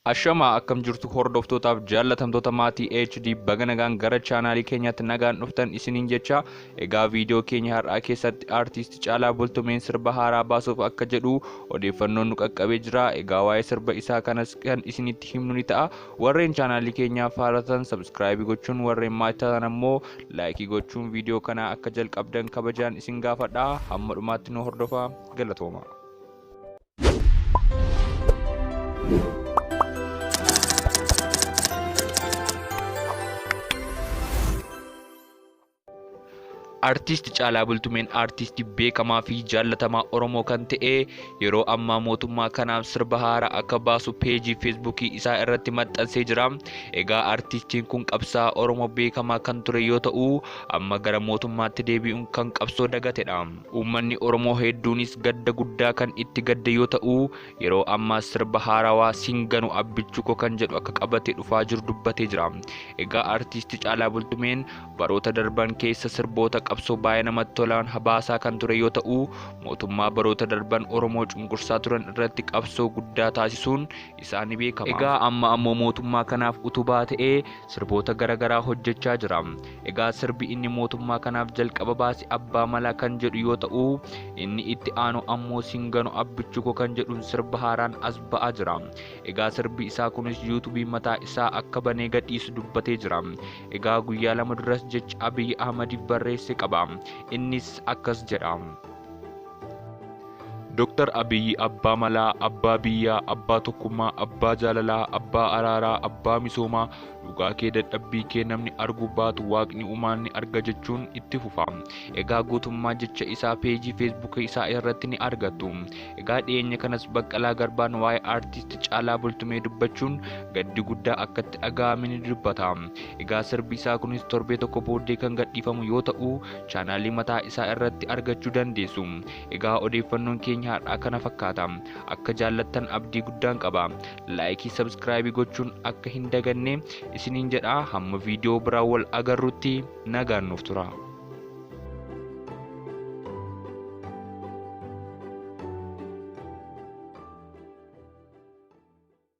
Ashamaa akkam jirtu hordoftootaaf jaallatamtoota maatii HD baga nagaan gara chaanaalii keenyaatti nagaan dhuftan isiniin jecha egaa viidiyoo keenya har'aa keessatti aartiisti Caalaa Bultumeen sirba haaraa baasuuf akka jedhu odeeffannoon nu qaqqabee jira egaa waa'ee sirba isaa kanas kan isinitti himnu ni ta'a warreen chaanaalii keenyaaf haaratan sabskraayibii gochuun warreen maatii taatan ammoo laayikii gochuun viidiyoo kana akka jalqabdan kabajaan isin gaafadha hamma dhumaatti nu hordofaa galatooma. Artiist Caalaa Bultumeen artiistii beekamaa fi jaallatamaa Oromoo kan ta'e yeroo ammaa mootummaa kanaaf sirba haaraa akka baasu peejii feesbuukii isaa irratti maxxansee jira. Egaa artiistiin kun qabsaa'aa Oromoo beekamaa kan ture yoo ta'u amma gara mootummaatti deebi'uun kan qabsoo dagatedha. Uummanni Oromoo hedduunis gadda guddaa kan itti gadde yoo ta'u, yeroo ammaas sirba haarawaa Sin Ganu Abbichuu Koo kan jedhu akka qabatee dhufaa jiru dubbatee jira. Egaa Artiisti Caalaa Bultumeen baroota darban keessa sirboota qabsoo baay'ee namatti tolaan habaasaa kan ture yoo ta'u, mootummaa baroota darban Oromoo cunqursaa turan irratti qabsoo guddaa taasisuun isaa ni beekama. Egaa amma ammoo mootummaa kanaaf utubaa ta'ee sirboota gara garaa hojjechaa jira. Egaa sirbi inni mootummaa kanaaf jalqaba baase abbaa malaa kan jedhu yoo ta'u inni itti aanu ammoo singano abbichuko kan jedhuun sirba haaraan as ba'aa jira. Egaa sirbi isaa kunis yuutubii mataa isaa akka banee gadhiisu dubbatee jira. Egaa guyyaa lama duras jecha Abiy Ahmadiif barreesse qaba. Innis akkas jedha. Dr. Abiy abbaa malaa, abbaa biyyaa, abbaa tokkummaa, abbaa jaalalaa, abbaa araaraa, abbaa misoomaa, Dhugaa kee dadhabbii kee namni argu baatu waaqni umaan ni arga jechuun itti fufa. Egaa guutummaa jecha isaa peejii feesbuuka isaa irratti ni argattu. Egaa dhiyeenya kanas Baqqalaa Garbaan waa'ee aartisti Caalaa Bultumee dubbachuun gaddi guddaa akka itti dhaga'ame ni dubbata. Egaa sirbi isaa kunis torbee tokko booddee kan gadhiifamu yoo ta'u chaanaalii mataa isaa irratti argachuu dandeessu. Egaa odeeffannoon keenya har'aa kana fakkaata. Akka jaallattan abdii guddaan qaba. laayikii sabskraayibii gochuun akka hin daganne isiniin jedha hamma viidiyoo biraa wal agarrutti nagaan nuuf tura.